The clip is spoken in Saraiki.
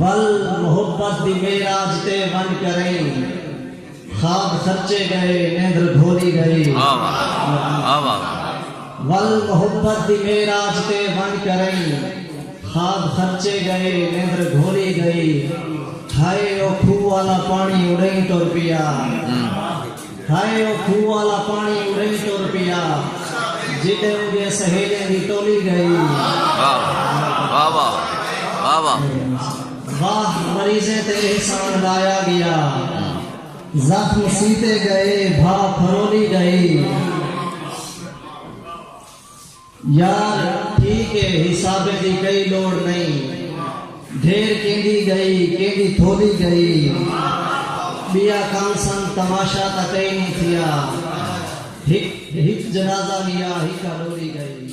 ول محبت دی معراج تے ونڄ کرئیں خواب سچے ڳئے نیندر گھولی ڳئی ول محبت دی معراج تے ونڄ کرئیں خواب سچے ڳئے نیندر گھولی ڳئی ہائے او کھوہ والا پاݨی اݙئیں ٹر پیا ہائے او کھوہ والا پاݨی اڑیں ٹر پیا جݙیں اوندیاں سہیلیاں دی ٹولی ڳئی۔ واہ واہ واہ واہ واہ مریضیں تے احسان لایا ڳیا زخم سیتے ڳئے بھاہ پھرولی ڳئی۔ یار ٹھیک اے حسابیں دی کئی لوڑ نئیں ڈھیر کیندی گئی کیندی تھولی گئی بیا کم سن تماشا تاں کئی نی تھیا ہک جنازہ گیا ہکا ڈولی گئی۔